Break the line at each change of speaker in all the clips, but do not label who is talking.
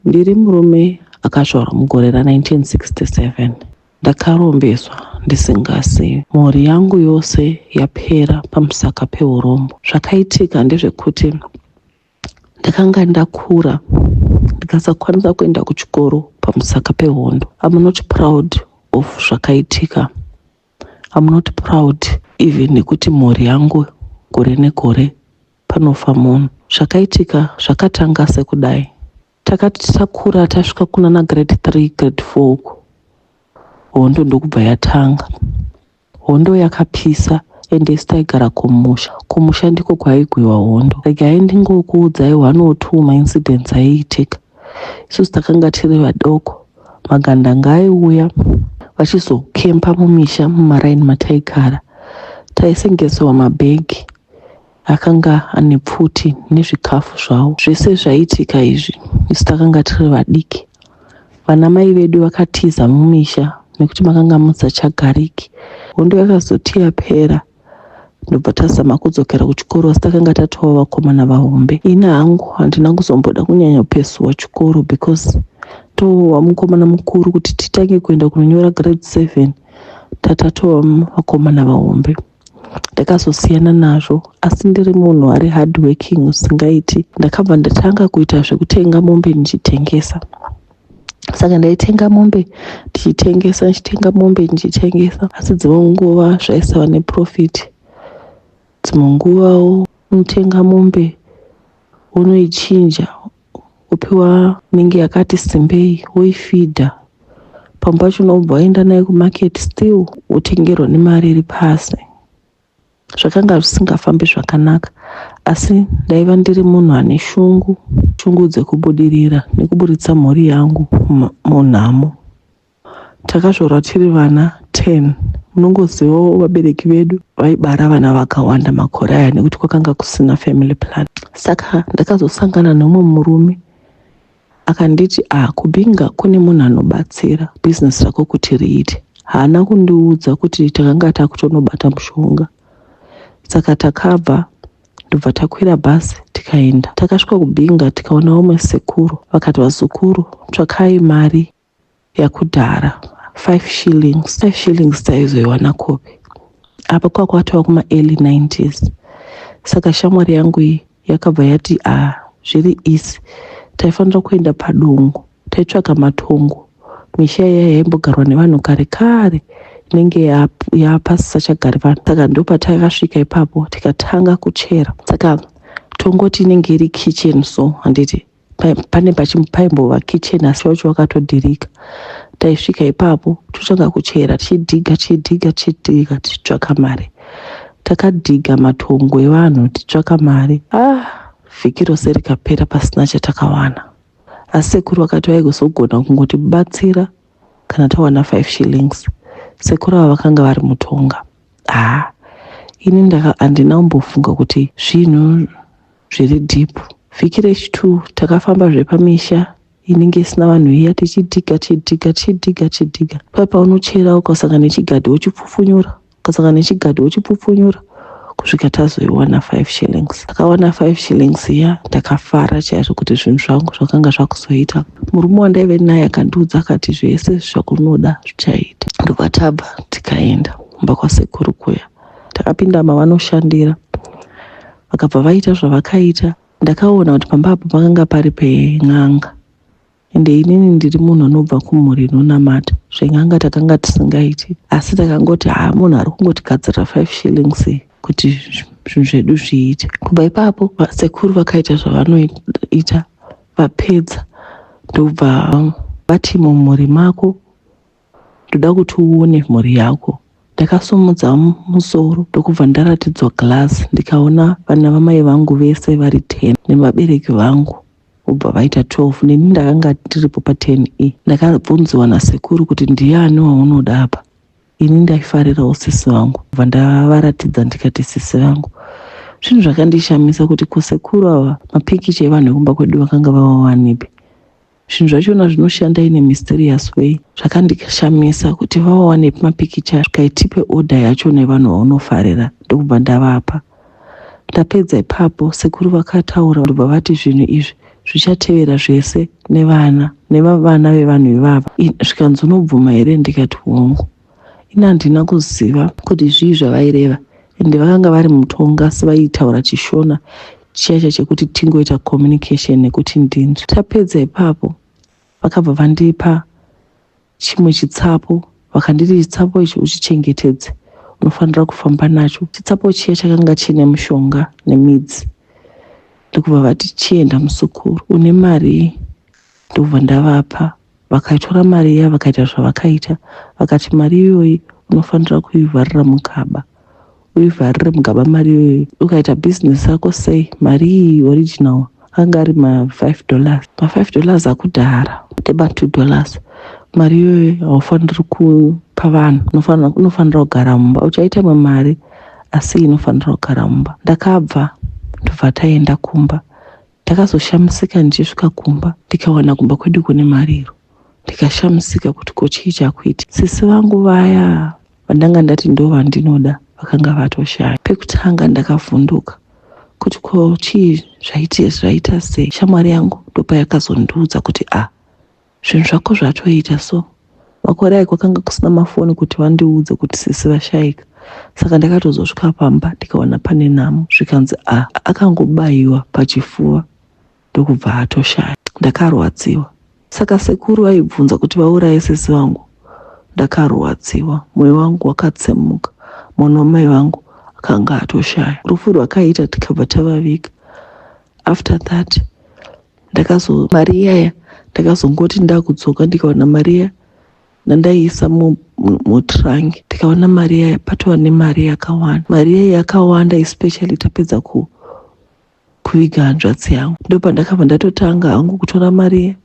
Ndiri murume akazvarwa mugore ra 1967 ndakarombeswa ndisingazivi. Mhuri yangu yose yapera pamusaka peurombo. Zvakaitika ndezvekuti ndakanga ndakura ndikasakwanisa kuenda kuchikoro pamusaka pehondo. I'm not proud of zvakaitika. I'm not proud even nekuti mhuri yangu gore negore panofa munhu. Zvakaitika zvakatanga sekudai. Takati takura tasvika kunana grade 3 grade 4 uko hondo ndokubva yatanga. Hondo yakapisa ende isu taigara kumusha. Kumusha ndiko kwaigwiwa hondo. Regai ndingokuudzai one or two maincidents aiitika. isusu takanga tiri vadoko magandanga aiuya vachizokempa mumisha mumaraini mataigara taisengesewa mabhegi akanga ane pfuti nezvikafu zvavo zvese zvaiitika izvi isu takanga tiri vadiki vana mai vedu vakatiza mumisha nekuti makanga musachagariki hondo yakazoti yapera ndobva tazama kudzokera kuchikoro asi takanga tatova vakomana vahombe ini hangu handina kuzomboda kunyanya kupesuwa chikoro because tova mukomana mukuru kuti titange kuenda kunonyora grade seven tatatova vakomana vahombe ndakazosiyana nazvo asi ndiri munhu ari hard working usingaiti ndakabva ndatanga kuita zvekutenga mombe ndichitengesa saka ndaitenga mombe ndichitengesa ndichitenga mombe ndichitengesa asi dzimwe nguva zvaisava neprofit dzimwe nguva unotenga mombe unoichinja upiwa inenge yakati simbei woifidha pamwe pacho unobva waenda nayo kumarket still wotengerwa nemari iri pasi zvakanga zvisingafambi zvakanaka asi ndaiva ndiri munhu ane shungu shungu dzekubudirira nekuburitsa mhuri yangu munhamo takazvarwa tiri vana 10 munongozivawo vabereki vedu vaibara vana vakawanda makore aya nekuti kwakanga kusina family plan saka ndakazosangana nomwe murume Akanditi ah kuBinga kune munhu anobatsira business rako kuti riite. Haana kundiudza kuti takanga takutonobata mushonga. Saka takabva ndobva takwira bhazi tikaenda. Takasvika kuBinga tikaona vamwe sekuru vakati vazukuru tsvakai mari yakudhara 5 shillings 5 shillings taizoiwana kopi apa kwakwatova kuma early 90s saka shamwari yangu iyi yakabva yati a ah, zviri easy taifanira kuenda padongo taitsvaga matongo misha iya yaimbogarwa nevanhu kare kare inenge yapasisachagari vanhu saka ndopatakasvika ipapo tikatanga kuchera saka tongoti inenge iri kitchen so handiti pai- pane pachi- paimbova kitchen asi wacho wakatodhirika taisvika ipapo totanga kuchera tichidhiga tichidhiga tichidhiga tichitsvaka mari takadhiga matongo evanhu tichitsvaka mari ah vhiki rose rikapera pasina chatakawana asi sekuru vakati vaigozogona kungotibatsira kana tawana 5 shillings sekuru ava vakanga vari mutonga ah ini ndaka handina kumbofunga kuti zvinhu zviri deep vhiki rechitwo takafamba zvepamisha inenge isina vanhu iya tichidhiga chidhiga chidhiga chidhiga pai paunochera ukasanga nechigadhi wochipfupfunyura ukasanga nechigadhi wochipfupfunyura kusvika tazoiwana 5 shillings takawana 5 shillings iya ndakafara chaizvo kuti zvinhu zvangu zvakanga zvakuzoita murume wandaive naye akandiudza akati zvese zvakunoda zvichaita ndobva tabva tikaenda mumba kwasekuru kuya takapinda mavanoshandira Vakabva vaita zvavakaita ndakaona kuti pamba apo pakanga pari pen'anga ende inini ndiri munhu anobva kumhuri inonamata zven'anga takanga tisingaiti asi takangoti haa munhu ari kungotigadzirira five shillings kuti zvinhu zvedu zviite kubva ipapo sekuru vakaita zvavanoita vapedza ndobva vati mumhuri mako ndoda kuti uone mhuri yako ndakasumudza musoro ndokubva ndaratidzwa glass ndikaona vana vamai vangu vese vari 10 nevabereki vangu vobva vaita 12 neni ndakanga ndiripo pa10 e ndakabvunziwa nasekuru kuti ndiani waunoda apa ini ndaifarirawo sisi vangu bva ndavaratidza ndikati sisi vangu zvinhu zvakandishamisa kuti kosekuru ava mapikicha evanhu vekumba kwedu vakanga vavawanepi zvinhu zvachona zvinoshanda in a mysterious way zvakandishamisa kuti vawane mapikicha zvikaitipe order yacho nevanhu vaunofarira ndokubva ndavapa ndapedza ipapo sekuru vakataura ndobva vati zvinhu izvi zvichatevera zvese nevana nevavana vevanhu ivava zvikanzi unobvuma here ndikati hongu ini handina kuziva kuti zvii zvavaireva ende vakanga vari mutonga asi vaitaura chishona chiyacha chekuti tingoita communication nekuti ndinzwi tapedza ipapo vakabva vandipa chimwe chitsapo vakanditi chitsapo ichi uchichengetedze unofanira kufamba nacho chitsapo chiya chakanga chiine mushonga nemidzi ndokubva vati chienda musukuru une mari ndobva ndavapa vakaitora mari iya vakaita zvavakaita vakati mari iyoyi unofanira kuivharira mugaba uivharire mugaba mari iyoyi ukaita bhizinesi yako sei mari iyi original anga ari ma5 dollars ma5 dollars akudhara ndema2 dollars mari iyoyi haufaniri kupa vanhu unofanira kugara mumba uchaita imwe mari asi inofanira kugara mumba ndakabva ndobva taenda kumba Ndakazoshamisika ndichisvika kumba ndikawana kumba kwedu kune mariro ndikashamisika kuti ko chii chakuiti sisi vangu vaya vandanga ndati ndo vandinoda vakanga vatoshaya pekutanga ndakavhunduka kuti ko chii zvaiti zvaita sei shamwari yangu ndopayakazondiudza kuti a ah, Zvinhu zvako zvatoita so. Makore ayo kwakanga kusina mafoni kuti vandiudze kuti sisi vashaika. Saka ndakatozosvika pamba ndikaona pane nhamo zvikanzi a akangobaiwa pachifuva ndokubva atoshaya. Ndakarwadziwa. Saka sekuru vaibvunza kuti vauraye sisi vangu? Ndakarwadziwa. Moyo wangu wakatsemuka. Mwana wamai vangu akanga atoshaya. Rufu rwakaita tikabva tavaviga. After that ndakazo mari iyaya ndakazongoti ndakudzoka ndikaona mari iya ndandaiisa mutrank ndikaona mari iya patova nemari yakawanda mari iya yakawanda especially tapedza ku kuviga hanzvadzi yangu ndopandakabva ndatotanga hangu kutora mari iya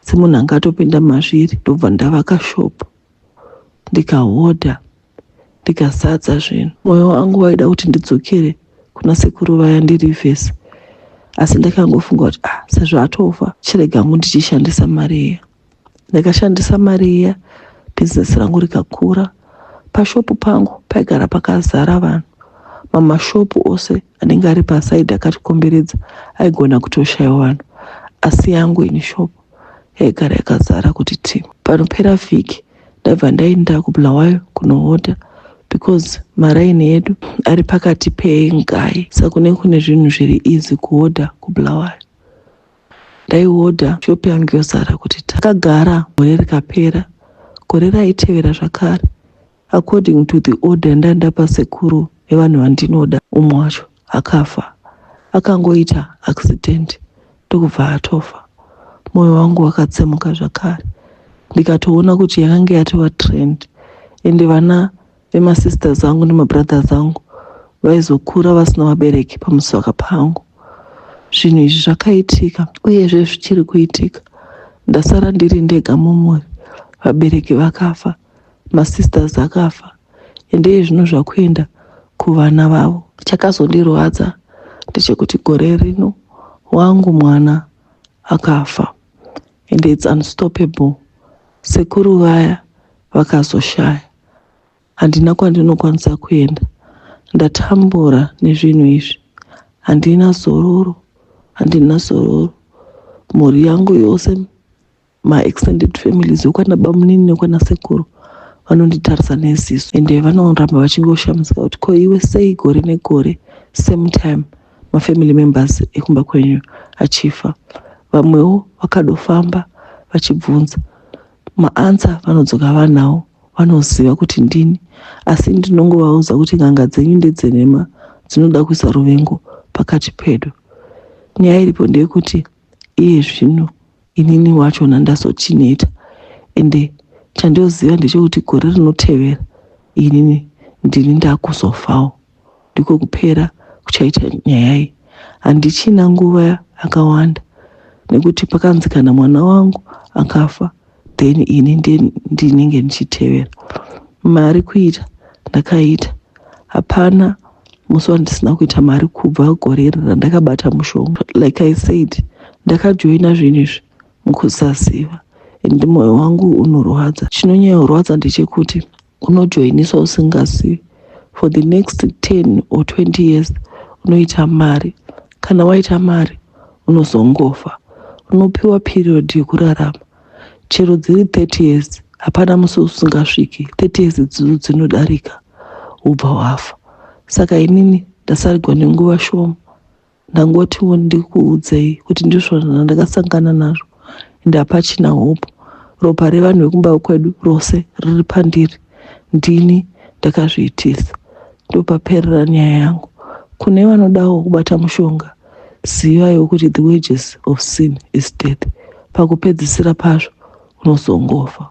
semunhu anga atopinda mazviri ndobva ndavaka shopo ndikahodha ndikasadza zvinhu mwoyo wangu waida kuti ndidzokere kuna sekuru vaya ndiri vhesi asi ndakangofunga kuti ah sezvo atofa chirega ngu ndichishandisa mari iya ndakashandisa mari iya bhizinesi rangu rikakura pashopu pangu paigara pakazara vanhu mamashopu ose anenge ari pasaidi akatikomberedza aigona kutoshaiwa vanhu asi yangu ini shopu yaigara yakazara kuti ti panopera vhiki ndaibva ndainda kubulawayo kunohodha because maraini edu ari pakati pengai saka ne kune zvinhu zviri easy kuhodha kubulawayo ndaihodha shopi yangu yozara kuti takagara gore rikapera gore raitevera zvakare According to the order yandandapa sekuru vevanhu vandinoda umwe wacho akafa akangoita accident ndokubva atofa moyo wangu wakatsemuka zvakare ndikatoona kuti yakange yatova trend ende vana vemasisters angu nemabrothers angu vaizokura vasina vabereki pamusaka pangu zvinhu izvi zvakaitika uyezve zvichiri kuitika ndasara ndiri ndega mumuri vabereki vakafa masisters akafa ende iye zvino zvakuenda kuvana vavo chakazondirwadza ndechekuti gore rino wangu mwana akafa and its unstoppable sekuru vaya vakazoshaya handina kwandinokwanisa kuenda ndatambura nezvinhu izvi handina zororo handina zororo mhuri yangu yose ma extended families wekwana bamunini nekwana sekuru vanonditarisa neziso ende vanoramba vachingoshamisika kuti ko iwe sei gore negore same time mafamily members ekumba kwenyu achifa vamwewo vakadofamba vachibvunza maansa vanodzoka vanawo vanoziva kuti ndini asi ndinongovaudza kuti n'anga dzenyu ndedzenhema dzinoda kuisa ruvengo pakati pedu nyaya iripo ndeyekuti iye zvino inini wachona ndazochineta ende chandoziva ndechekuti gore rinotevera inini ndini ndakuzofawo ndiko kupera kuchaita nyaya iyi handichina nguva yakawanda nekuti pakanzi kana mwana wangu akafa then ini ndinenge ndichitevera mari kuita ndakaita hapana musi wandisina kuita mari kubva gore iri randakabata mushonga like i said ndakajoina zvinhu izvi mukusaziva and moyo wangu unorwadza chinonyayorwadza ndechekuti unojoinisa usingazivi for the next 10 or 20 years unoita mari kana waita mari unozongofa unopiwa period yekurarama chero dziri 30 years hapana musi usingasviki 30 years dzidzo dzinodarika ubva wafa saka inini ndasarigwa nenguva shoma ndangotiwo ndikuudzei kuti ndizvo ndakasangana nazvo ende hapachina hope ropa revanhu vekumba kwedu rose riri pandiri ndini ndakazviitisa ndopaperera nyaya yangu kune vanodawo kubata mushonga zivaiwo kuti the wages of sin is death pakupedzisira pazvo unozongofa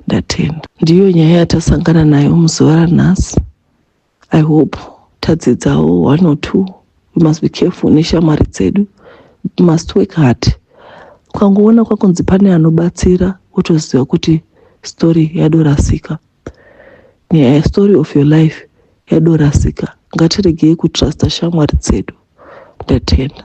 ndatenda ndiyo nyaya yatasangana nayo muzuva ranhasi I hope tadzidzawo one or two we must be careful neshamwari dzedu we must work hard ukangoona kwakunzi pane anobatsira wotoziva kuti story yadorasika nyaya yestory of your life yadorasika ngatiregei kutrusta shamwari dzedu ndatenda